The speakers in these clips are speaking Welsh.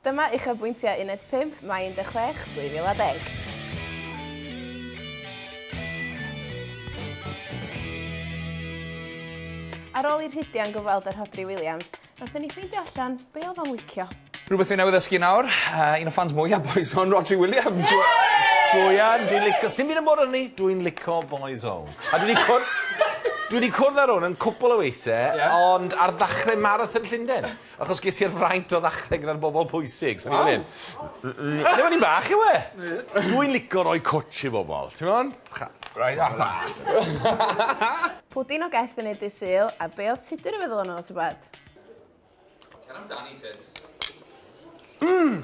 Dyma uchafbwyntiau Uned 5, Mai 16, 2010. Ar ôl i Rhydian gyfweld â Rhodri Williams, wnaethon ni ffeindio allan be oedd o'n licio. Rhywbeth fi newydd ddysgu nawr, uh, un o ffans mwyaf Boys Own, Rhodri Williams. Joian, dwi'n licio... Sdim byd yn bod arni, dwi'n licio Boys Own. A dwi wedi cwrdd... dwi wedi cwrdd ar hwn yn cwpl o weithiau, yeah. ond ar ddechrau Marathon Llundain. Achos ges i'r fraint o ddachrau gyda'r bobl pwysig, so ni fan 'yn. Waw! Ble o'n i'n fach yw e? Dw i'n lico roi cwtsh i bobl, ti'n gwbod? Cha- Reit oce. Tara. Pwdin o geth yn eu dydd Sul, a be oedd Tudur yn feddwl ohono fo tybed? Cer amdani Tuds. Mmm!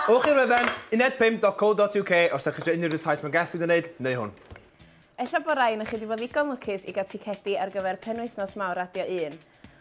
Ewch i'r wefan unedpump.co.uk os dach chi isio unrhyw ryw Saesneg o geth fi 'di neud, neu hwn. Ella bo rai onoch chi 'di bod ddigon lwcus i gael ticedi ar gyfer penwythnos mawr Radio Un.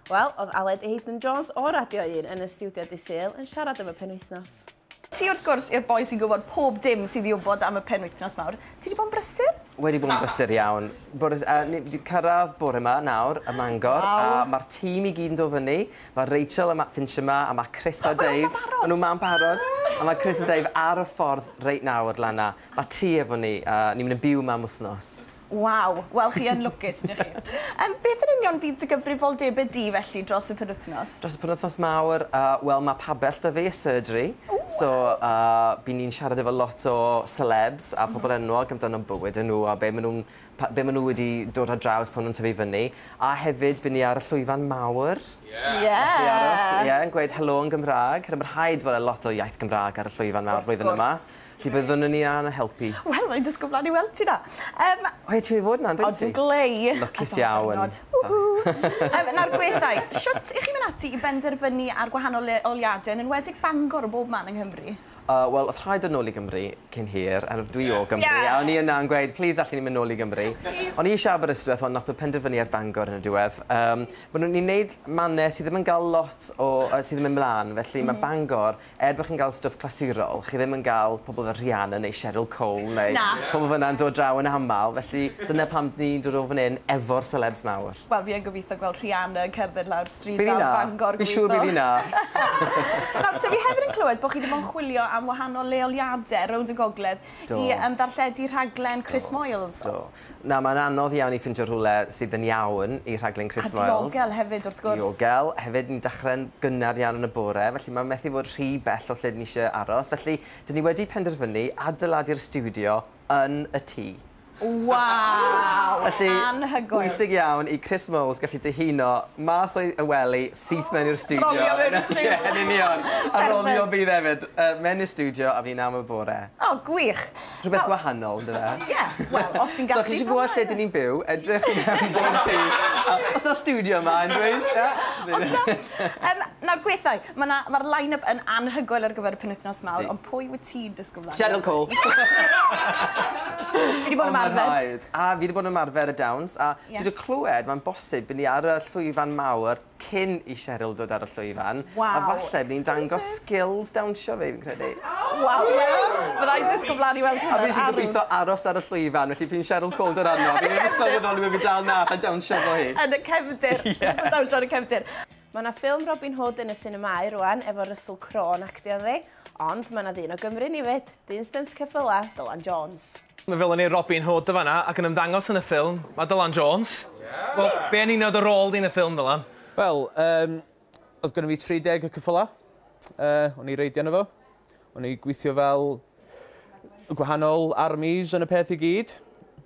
Wel, oedd Aled Haydn Jones o Radio Un yn y stiwdio dydd Sul yn siarad am y penwythnos. Ti wrth gwrs i'r boi sy'n gwybod pob dim sydd i wybod am y penwythnos mawr. Ti 'di bod yn brysur? Wedi bod yn brysur iawn. Bore, uh, ni wedi cyrraedd bore yma nawr ym Mangor wow. a mae'r tîm i gyd yn dod fyny. Mae Rachel a Matt Finch yma a mae Chris a Dave. Maen nhw'n ma'n barod. A mae Chris a Dave ar y ffordd reit nawr, Lana. Mae ti efo ni a ni'n mynd yn byw yma am wythnos. Waw! Wel chi yn lwcus ydych chi. Yym beth yn union fydd dy gyfrifoldebe di felly dros y penwythnos? Dros y penwythnos mawr yy wel ma' pabell 'da fi a surgery so yy by' ni'n siarad efo lot o celebs a pobol enwog amdano bywyd y' nhw a be' ma' nhw'n pa- be' ma' nhw wedi dod ar draws pan nw'n tyfu fyny a hefyd by' ni ar y llwyfan mawr. Ie. Ie. Nath hi aros ie yn gweud helo yn Gymra'g. Rhaid fod e lot o iaith Gymra'g ar y llwyfan mawr flwyddyn yma. Wrth gwrs. Ti byddwn yn ia na helpu. Wel, mae'n dysgu blaen i weld ti na. Um, o, ti'n mynd i fod na, dwi'n ti? O, dwi'n glei. Lwcus iawn. um, nawr, gweddau, siwt i chi mynd ati i benderfynu ar gwahanol leoliadau, yn enwedig Bangor o bob man yng Nghymru? Uh, Wel, oedd rhaid yn ôl i Gymru cyn hir, a dwi o Gymru, yeah. a o'n i yna yn gweud, please, allan ni'n mynd nôl i Gymru. O'n i eisiau Aberystwyth, ond nath o penderfynu ar Bangor yn y diwedd. Um, Mae nhw'n ni'n neud mannau sydd ddim yn cael lot o, uh, sydd ddim yn mlaen, felly mm. mae Bangor Er bod chi'n gael stwff clasurol, chi ddim yn gael pobl fel Rihanna neu Cheryl Cole neu... Na. ...pobl fyna'n dod draw yn aml, felly dyna pam dyn ni'n dod o fan hyn efo'r selebs mawr. Wel, fi yn gobeithio gweld Rihanna yn cerdded lawr stryd fawr Bangor gobeithio. Bydd 'i 'na. Fi siŵr bydd 'i 'na. Nawr te, fi hefyd yn clywed bod chi 'di bod yn chwilio am wahanol leoliade rownd y gogledd... Do. ...i yym ddarlledu rhaglen Chris Moyles. Do. Na, mae'n anodd iawn i ffindio rhywle sydd yn iawn i rhaglen Chris Moyles. A diogel hefyd, wrth gwrs. Diogel. Hefyd, ni'n dechrau'n gynnar iawn yn y bore, felly mae'n methu fod rhy bell o lle ni eisiau aros. Felly, dyn ni wedi penderfynu adeiladu'r stiwdio yn y tŷ. Waw! Felly, anhygoel. bwysig iawn i Chris Moyles gallu dihuno mas o'i y wely syth mewn i'r stiwdio. Rolio mewn i'r stiwdio. Ie, yn union. A rolio bydd hefyd. Yy, mewn i'r stiwdio a fydd ni'n am y bore. O, gwych. Rhywbeth gwahanol, on'd yfe? Ie, wel, os ti'n gallu... So, chi isie gwbod lle 'dyn ni'n byw, edrych i mewn bob tŷ, a o's 'na stiwdio 'ma unrywun? Ie? Nawr, gwethau, ma' 'na, ma'r line-up yn anhygoel ar gyfer y penwythnos mawr... Ydi. ...ond pwy wyt ti'n disgwl mlan... Cheryl Cole! Fi 'di bod yn ymarfer. O, ma'n rhaid. A fi 'di bod yn ymarfer y dawns, a... Ie. ...dwi 'di clywed, ma'n bosib, by' ni ar y llwyfan mawr cyn i Cheryl dod ar y llwyfan. Waw! A falle ni'n dangos skills dawnsio fi, fi'n credu. Waw! Fydda i'n disgwyl flaen i weld hwnna. A fi sy'n gobeithio aros ar y llwyfan, felly fi'n Cheryl Calder arno. Fi'n ddim yn sylweddoli bod fi dal na, allai dawnsio efo hi. Yn y cefndir. Ie. Jyst yn dawnsio yn y cefndir. Mae 'na ffilm Robin Hood yn y sinemâu rwan efo Russell Crowe yn actio ynddi. Ond mae 'na ddyn o Gymru yn 'i 'fyd, dyn stynt ceffylau, Dylan Jones. Mae fel yn ei Robin Hood yn fan'na ac yn ymddangos yn y ffilm, mae Dylan Jones. Wel, be yn union oedd dy rôl di yn y ffilm, Ddylan? Wel, yym, oedd gynno fi 30 o ceffylau, yy, o'n i reidio arno fo, o'n i gweithio fel y gwahanol armies yn y peth i gyd,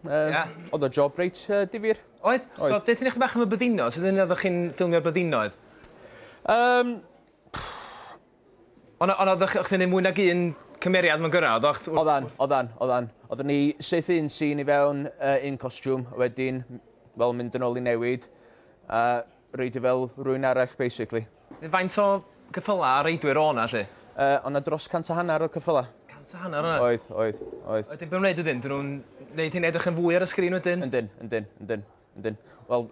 yy, Ie. oedd o job reit yy difyr. Oedd? Oedd. So, deutha ni chydig bach am y byddinodd, sut oeddech chi'n ffilmio'r byddinoedd? Yym, Ond o- ond odd o'ch o'ch chdi'n neud mwy nag un cymeriad mewn gyrra oddach? T- wrth Oddan, wrth... oddan, oddan. Oddwn i syth un sîn i fewn yy un costiwm a wedyn m- wel mynd yn ôl i newid a reidio fel rywun arall basically. Yy faint o ceffyla a reidwyr o' 'na 'lly? Yy o' 'na dros cant a hannar o ceffyla. Cant a hannar o' 'na? Oedd, oedd, oedd. A wedyn be' ma' nw'n neud wedyn? 'Dyn nw'n neud hyn edrych yn fwy ar y sgrin wedyn? Yndyn, yndyn, yndyn. Wedyn, wel,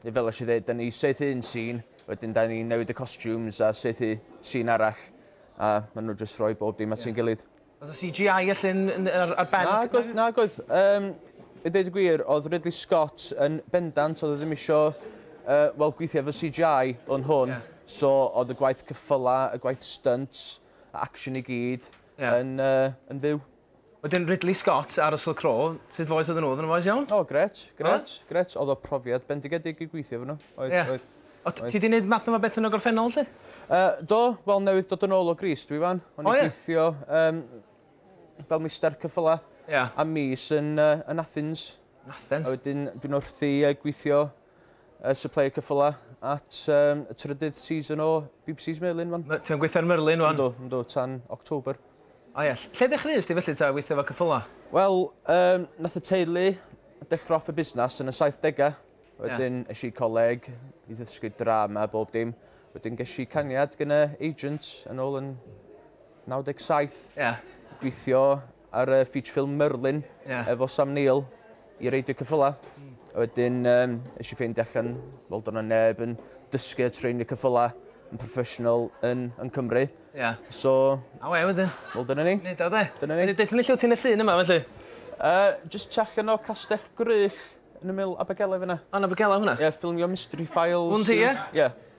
fel eisiau dweud, da ni saethu un sîn, wedyn da ni'n newid y costumes a saethu sîn arall, a maen nhw jyst rhoi bob dim at sy'n gilydd. Oedd y CGI allan ar, ar ben? Na, gwaith, na, gwaith. Um, I ddeud y gwir, oedd Ridley Scott yn bendant, oedd e ddim eisiau uh, wel, gweithio efo CGI o'n hwn, yeah. so oedd y gwaith cyffyla, y gwaith stunt, action i gyd, yeah. yn, uh, yn fyw. Wedyn Ridley Scott a Russell Crowe, sut faes oedden nhw? Oedden nhw'n faes iawn? O grêt, grêt, grêt. Oedd o profiad bendigedig i gweithio efo nhw. Oedd, yeah. oedd. O, ti wedi gwneud math yma beth yn y gorffennol, lle? Uh, do, wel newydd dod yn ôl o Gris, dwi fan. O'n i'n gweithio um, fel mister cyffyla yeah. a mis yn, uh, yn Athens. Yn Athens? A wedyn dwi'n wrthi uh, gweithio y supplier cyffyla at um, y trydydd season o BBC's Merlin fan. Ti'n gweithio ar Merlin fan? Ynddo, ynddo, tan October. A ie, lle ddechreuais ti felly ta weithio fo cyffyla? Wel, um, nath y teulu dechrau off y busnes yn y 70au. Wedyn yeah. eisiau coleg i ddysgu drama bob dim. Wedyn ges i cangiad gyda agent yn ôl yn 97. Yeah. Gweithio ar y feature film Merlin yeah. efo Sam Neill i reidio cyffyla. Mm. A wedyn um, eisiau i ffeindio allan, fel do'n neb yn dysgu a treinio cyffyla yn professional yn, yn Cymru. Yeah. So... A we wedyn? Wel, dyna ni. Nid o, de. Dyna ni. Dydyn ni lle ti'n y llun yma, felly? Uh, just check yno Castell Gryll yn y mil Abergele fyna. Yn Abergele hwnna? Ie, yeah, ffilmio Mystery Files. Hwn ti, ie? Ie.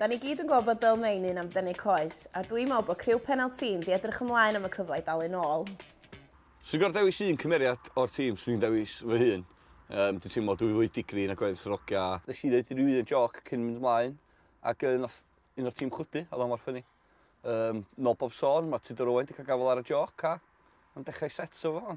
Da ni gyd yn gweld bod Dale Main un am dynnu coes, a dw i'n meddwl bod criw Penalty'n di edrych ymlaen am y cyfle i dalu nôl. Swn i'n gorfod dewis un cymeriad o'r tîm, swn i'n dewis fy hun. Yym, dwi'n teimlo dwy fwy digri nag oedd Rogia. Nes i ddeud ryw un jôc cyn mynd ymlaen, ac yy nath un o'r tîm chwydu, oedd o mor ffyni. Yym, nôl bob sôn, ma' Tudor Owen 'di cael gafael ar y jôc, a ma'n dechrau set o fo.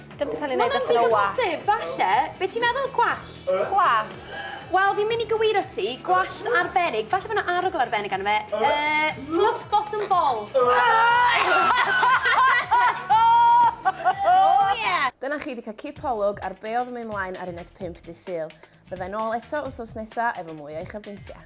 Dim di cael ei wneud allan o wallt. Mae'n rhy gymhosib, falle. Be ti'n meddwl? Gwallt? Gwallt. Wel, fi'n mynd i gywiro ti, gwallt arbennig, falle bod yna arogl arbennig arno fe. Uh, fluff bottom ball. oh, yeah! Dyna chi wedi cael cip holwg ar be oedd yn mynd mlaen ar uned 5 dy syl. Byddai'n ôl eto wsos nesaf efo mwy o'i chyfrintiau.